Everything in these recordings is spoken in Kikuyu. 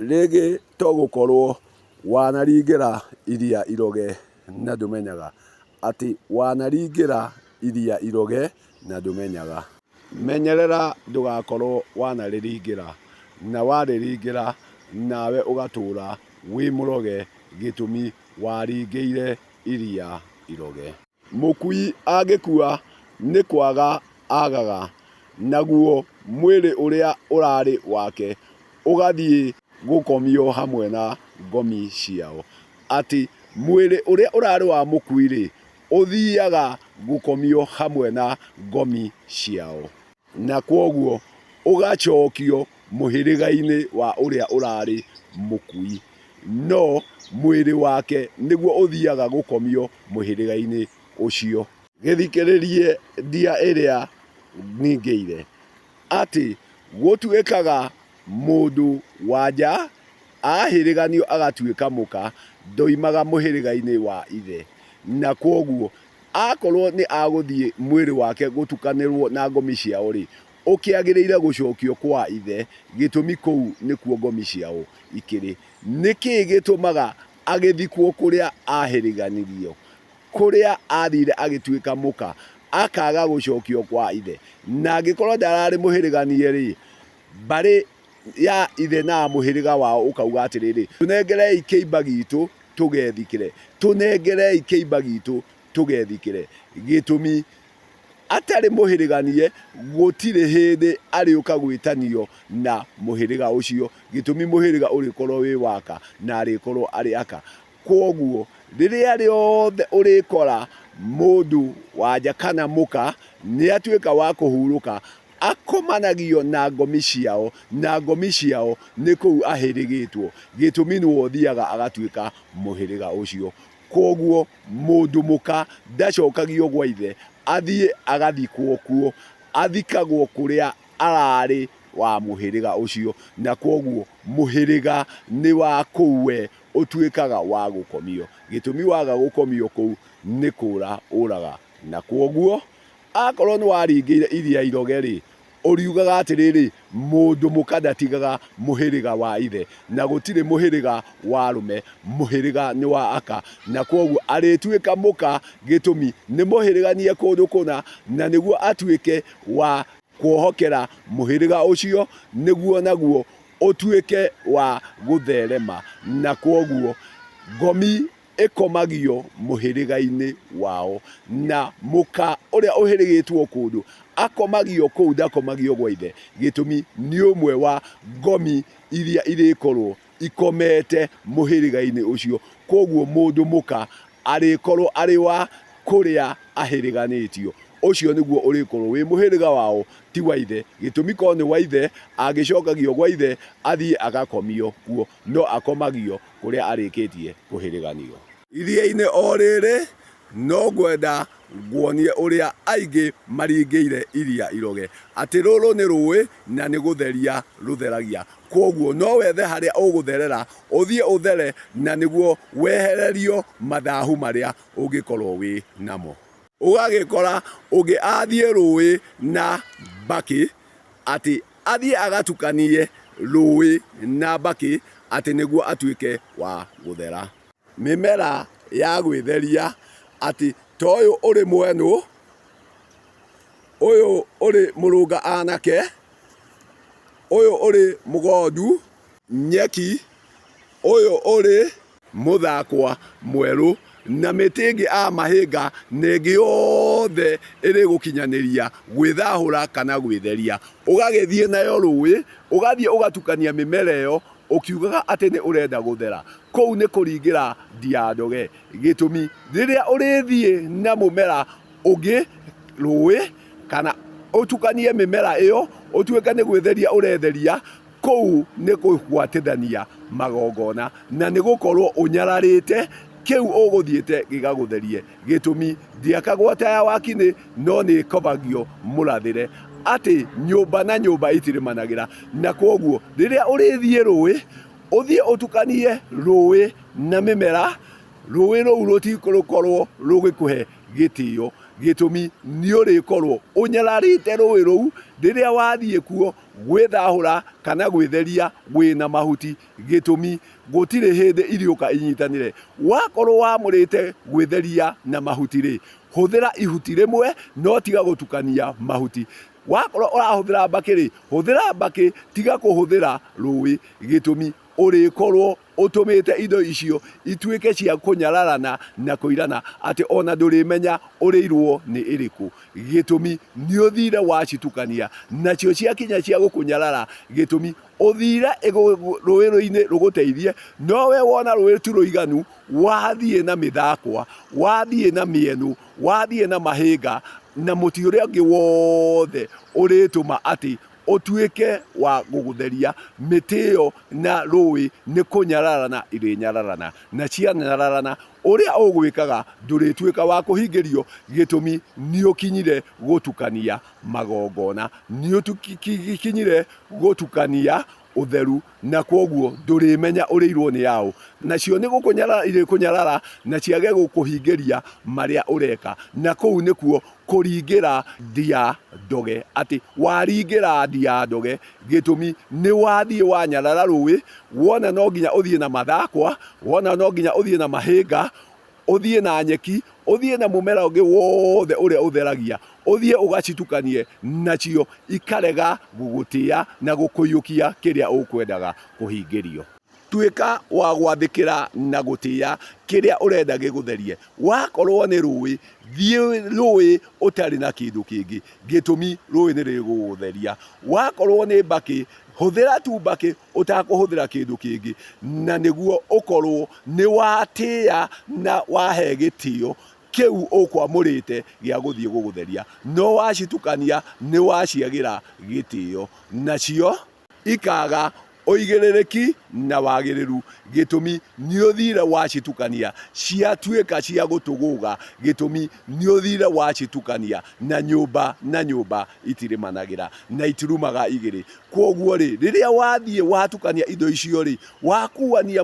Rĩngĩ to gũkorũo wanaringĩra Iria Iroge na ndũmenyaga. Atĩ wanaringĩra Iria Iroge na ndũmenyaga. Menyerera ndũgakorũo wanarĩringĩra. Na warĩringĩra nawe ũgatũũra wĩ mũroge gĩtũmi waringĩire Iria Iroge. Mũkui angĩkua nĩ kwaga aagaga, naguo mwĩrĩ ũrĩa ũrarĩ wake ũgathiĩ gũkomio hamwe na ngomi ciao. Atĩ mwĩrĩ ũrĩa ũrarĩ wa mũkui-rĩ, ũthiaga gũkomio hamwe na ngomi ciao. Na kwoguo ũgacookio mũhĩrĩgainĩ wa ũrĩa ũraarĩ mũkui, no mwĩrĩ wake nĩguo ũthiaga gũkomio mũhĩrĩgainĩ ũcio. Gĩthikĩrĩrie ndia ĩrĩa ningĩire, atĩ gũtuĩkaga mũndũ wa nja aahĩrĩganio agatuĩka mũka, ndoimaga mũhĩrĩgainĩ wa ithe. Na kwoguo Akorwo nĩ agũthiĩ mwĩrĩ wake gũtukanĩrwo na ngomi ciao-rĩ, ũkĩagĩrĩire gũcokio kwa ithe, gĩtũmi kũu nĩkuo ngomi ciao ikĩrĩ. Nĩ kĩĩ gĩtũmaga agĩthikwo kũrĩa aahĩrĩganirio? Kũrĩa aathiire agĩtuĩka mũka, akaaga gũcokio kwa ithe. Na angĩkorwo ndararĩ mũhĩrĩganie-rĩ, mbarĩ ya ithe na mũhĩrĩga wao ũkauga atĩrĩrĩ, tũnengerei kĩimba gitũ tũgethikĩre, tũnengerei kĩimba gitũ tũgethikĩre. Gĩtũmi, atarĩ mũhĩrĩganie gũtirĩ hĩndĩ arĩũka gwĩtanio na mũhĩrĩga ũcio, gĩtũmi mũhĩrĩga ũrĩkorwo wĩ waka na arĩkorwo arĩ aka. Kwoguo rĩrĩa rĩothe ũrĩkora mũndũ wanja kana mũka nĩ atuĩka wa kũhurũka, Akomanagio na ngomi ciao, na ngomi ciao nĩ kũu ahĩrĩgĩtwo, gĩtũmi nũũ ũthiaga agatuĩka mũhĩrĩga ũcio. Kwoguo mũndũ mũka ndacokagio gwa ithe, athiĩ agathikwo kuo, athikagwo kũrĩa ararĩ wa mũhĩrĩga ũcio, na kwoguo mũhĩrĩga nĩ wa kũu we ũtuĩkaga wa gũkomio, gĩtũmi waga gũkomio kũu nĩ kũũra ũũraga, na kwoguo Akorwo nĩwaringĩire iria iroge-rĩ, ũriugaga atĩrĩrĩ, Mũndũ mũka ndatigaga mũhĩrĩga wa ithe, na gũtirĩ mũhĩrĩga wa arũme, mũhĩrĩga nĩ wa aka, na kwoguo arĩtuĩka mũka gĩtũmi nĩmũhĩrĩganie kũndũ kũna, na nĩguo atuĩke wa kuohokera mũhĩrĩga ũcio, nĩguo naguo ũtuĩke wa gũtherema, na kwoguo ngomi ĩkomagio mũhĩrĩga-inĩ wao, na mũka ũrĩa ũhĩrĩgĩtwo kũndũ akomagio kũu, ndakomagio gwa ithe, gĩtũmi nĩ ũmwe wa ngomi iria irĩkorwo ikomete mũhĩrĩga-inĩ ũcio. Kwoguo mũndũ mũka arĩkorwo arĩ wa kũrĩa ahĩrĩganĩtio, ũcio nĩguo ũrĩkorwo wĩ mũhĩrĩga wao, ti wa ithe, gĩtũmi korwo nĩ wa ithe, angĩcokagio gwa ithe athiĩ agakomio kuo, no akomagio kũrĩa arĩkĩtie kũhĩrĩganio. Iria-inĩ o rĩrĩ, no ngwenda nguonie ũrĩa aingĩ maringĩire iria iroge, atĩ rũrũ nĩ rũĩ na nĩ gũtheria rũtheragia. Kwoguo no wethe harĩa ũgũtherera, ũthiĩ ũthere na nĩguo wehererio mathahu marĩa ũngĩkorũo wĩ namo. Ũgagĩkora ũngĩ athiĩ rũĩ na mbakĩ atĩ Athiĩ agatukanie rũũĩ na mbakĩ atĩ nĩguo atuĩke wa gũthera. Mĩmera ya gwĩtheria atĩ ta ũyũ ũrĩ mwenũ, ũyũ ũrĩ mũrũnga anake, ũyũ ũrĩ mũgondu. Nyeki, ũyũ ũrĩ Mũthakwa mwerũ, na mĩtĩ ĩngĩ a mahĩnga na ĩngĩ yothe ĩrĩgũkinyanĩria gwĩthahũra kana gwĩtheria, ũgagĩthiĩ nayo rũũĩ, ũgathiĩ ũgatukania mĩmera ĩyo ũkiugaga atĩ nĩ ũrenda gũthera. Kũu nĩ kũringĩra ndiandoge. Gĩtũmi, rĩrĩa ũrĩthiĩ na mũmera ũngĩ rũũĩ, kana ũtukanie mĩmera ĩyo, ũtuĩke nĩ gwĩtheria ũretheria, Kũu nĩ kũgwatithania magongona, na nĩ gũkorũo ũnyararĩte, kĩu ũgũthiĩte gĩgagũtherie. Gĩtũmi, ndĩakagwo ataya wakinĩ, no nĩ ĩkobagio mũrathĩre, atĩ nyũmba na nyũmba itirimanagĩra. Na kwoguo rĩrĩa ũrĩthiĩ rũĩ, ũthiĩ ũtukanie rũĩ na mĩmera, rũĩ rũu rũtigũkorũo rũgĩkũhe gĩtĩo. Gĩtũmi, nĩ ũrĩkorũo ũnyararĩte rũĩ rũu, rĩrĩa wathiĩ kuo Gwĩthahũra kana gwĩtheria gwĩ na mahuti. Gĩtũmi, Gũtirĩ hĩndĩ iriũka inyitanĩre. Wakorwo wamũrĩte gwĩtheria na mahuti-rĩ, hũthĩra ihuti rĩmwe no tiga gũtukania mahuti. Wakorwo ũrahũthĩra mbakĩ-rĩ, hũthĩra mbakĩ tiga kũhũthĩra rũĩ. Gĩtũmi, Ũrĩkorwo Ũtũmĩte indo icio ituĩke cia kũnyararana na kũirana atĩ o na ndũrĩmenya ũrĩirũo nĩ ĩrĩkũ. Gĩtũmi, Nĩ ũthiire wacitukania, nacio ciakinya cia gũkũnyarara. Gĩtũmi, Ũthiire rũĩrũ-inĩ rũgũteithie, no wee wona rũĩ ti rũiganu, wathiĩ na mĩthakwa, wathiĩ na mĩenũ, wathiĩ na mahĩnga, na mũtĩ ũrĩa ũngĩ wothe ũrĩtũma atĩ ũtuĩke wa gũgũtheria, mĩtĩ ĩyo na rũũĩ nĩ kũnyararana irĩnyararana, na cianyararana, ũrĩa ũgwĩkaga ndũrĩtuĩka wa kũhingĩrio, gĩtũmi nĩũkinyire gũtukania magongona, nĩũkinyire gũtukania ũtheru, na kwoguo ndũrĩmenya ũrĩirwo nĩ aũ. Nacio nĩ gũkũnyarara irĩkũnyarara, na ciage gũkũhingĩria marĩa ũreka. Na kũu nĩkuo kũringĩra ndia ndoge, atĩ waringĩra ndia ndoge, gĩtũmi nĩ wathiĩ wanyarara rũĩ, wona no nginya ũthiĩ na mathakwa, wona no nginya ũthiĩ na mahĩnga, ũthiĩ na nyeki, ũthiĩ na mũmera ũngĩ wothe ũrĩa ũtheragia, ũthiĩ ũgacitukanie nacio, ikarega gũgũtĩa na gũkũiyũkia kĩrĩa ũkwendaga kũhingĩrio. Tuĩka wa gwathĩkĩra na gũtĩa kĩrĩa ũrenda gĩgũtherie. Wakorũo nĩ rũũĩ, thiĩ rũũĩ ũtarĩ na kĩndũ kĩngĩ, gĩtũmi rũũĩ nĩ rĩgũgũtheria. Wakorũo nĩ mbakĩ, hũthĩra tu mbakĩ ũtakũhũthĩra kĩndũ kĩngĩ, na nĩguo ũkorũo nĩ watĩa na wahe gĩtĩo kĩu ũkwamũrĩte gĩa gũthiĩ gũgũtheria. No wacitukania nĩ waciagĩra gĩtĩo, nacio ikaaga ũigĩrĩrĩki na wagĩrĩru, gĩtũmi nĩ ũthire wacitukania, ciatuĩka cia gũtũgũga, gĩtũmi nĩ ũthire wacitukania na nyũmba na nyũmba itirĩmanagĩra, na itirumaga igĩrĩ. Kwoguo-rĩ, rĩrĩa wathiĩ watukania indo icio-rĩ, wakuania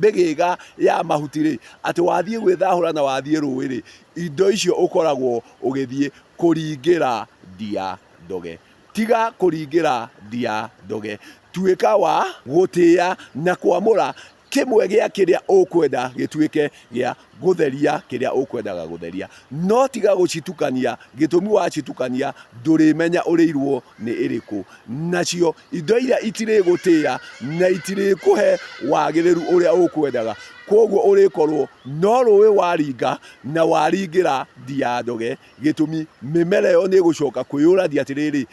mĩgĩga ya mahuti-rĩ, atĩ wathiĩ gwĩthahũra na wathiĩ rũĩ-rĩ, indo icio ũkoragwo ũgĩthiĩ kũringĩra ndia ndoge. Tiga kũringĩra ndia ndoge. Tuĩka wa gũtĩa na kwamũra kĩmwe gĩa kĩrĩa ũkwenda gĩtuĩke gĩa gũtheria kĩrĩa ũkwendaga gũtheria, no tiga gũcitukania, gĩtũmi wacitukania ndũrĩmenya ũrĩirwo nĩ ĩrĩkũ. Nacio indo iria itirĩgũtĩa na itirĩkũhe wagĩrĩru ũrĩa ũkwendaga, koguo ũrĩkorwo no rũĩ waringa na waringĩra ndiandoge, gĩtũmi mĩmera ĩyo nĩ ĩgũcoka kwĩyũrania atĩrĩrĩ,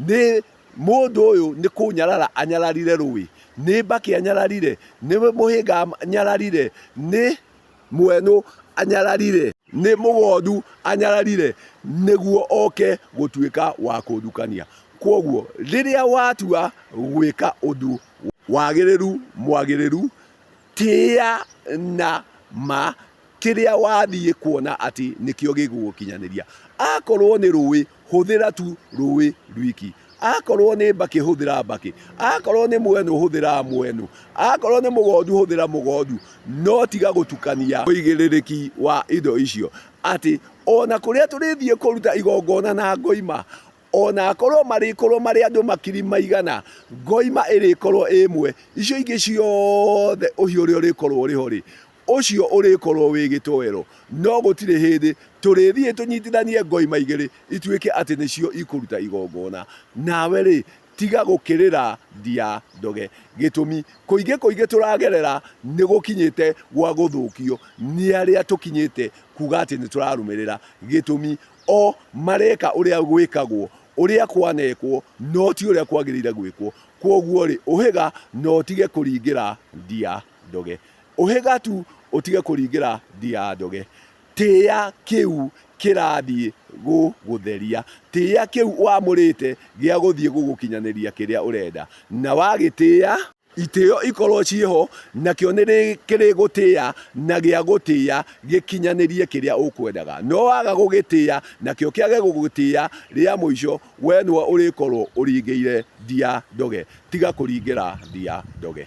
nĩ Mũndũ ũyũ nĩ kũnyarara anyararire rũĩ, nĩ mbakĩ anyararire, nĩ mũhĩnga anyararire, nĩ mwenũ anyararire, nĩ mũgondu anyararire, nĩguo oke gũtuĩka wa kũndukania. Kwoguo rĩrĩa watua gwĩka ũndũ wagĩrĩru mwagĩrĩru, tĩa na ma kĩrĩa wathiĩ kuona atĩ nĩkĩo gĩgũgũkinyanĩria. Akorwo nĩ rũĩ, hũthĩra tu rũĩ rwiki. Akorwo nĩ mbakĩ, hũthĩra mbakĩ. Akorwo nĩ mwenu, hũthĩra mwenu. Akorwo nĩ mũgondu, hũthĩra mũgondu. No tiga gũtukania ũigĩrĩrĩki wa indo icio. Atĩ o na kũrĩa tũrĩthiĩ kũruta igongona na ngoima, o na akorwo marĩkorwo marĩ andũ makiri maigana, ngoima ĩrĩkorwo ĩ ĩmwe. Icio ingĩ ciothe ũhiũ ũrĩa ũrĩkorwo ũrĩ ho-rĩ, ũcio ũrĩkorwo wĩ gĩtoero, no gũtirĩ hĩndĩ tũrĩthiĩ tũnyitithanie ngoima igĩrĩ ituĩke atĩ nĩcio ikũruta igongona. Nawe-rĩ, tiga gũkĩrĩra ndia ndoge. Gĩtũmi, kũingĩ kũingĩ tũragerera nĩ gũkinyĩte gwa gũthũkio nĩ arĩa tũkinyĩte kuuga atĩ nĩ tũrarũmĩrĩra. Gĩtũmi, o mareka ũrĩa gwĩkagwo, ũrĩa kwanekwo, no ti ũrĩa kwagĩrĩire gwĩkwo. Kwoguo-rĩ, ũhĩga na ũtige kũringĩra ndia. ndoge. Ũhĩga tu ũtige kũringĩra ndia ndoge. Tĩa kĩu kĩrathiĩ gũgũtheria. Tĩa kĩu wamũrĩte gĩa gũthiĩ gũgũkinyanĩria kĩrĩa ũrenda. Na wagĩtĩa, itĩo ikorwo ciĩ ho, nakĩo nĩ kĩrĩgũtĩa na gĩa gũtĩa gĩkinyanĩrie kĩrĩa ũkwendaga. No waga gũgĩtĩa, nakĩo kĩage gũgũtĩa, rĩa mũico we nĩwe ũrĩkorwo ũringĩire ndia ndoge. Tiga kũringĩra ndia ndoge.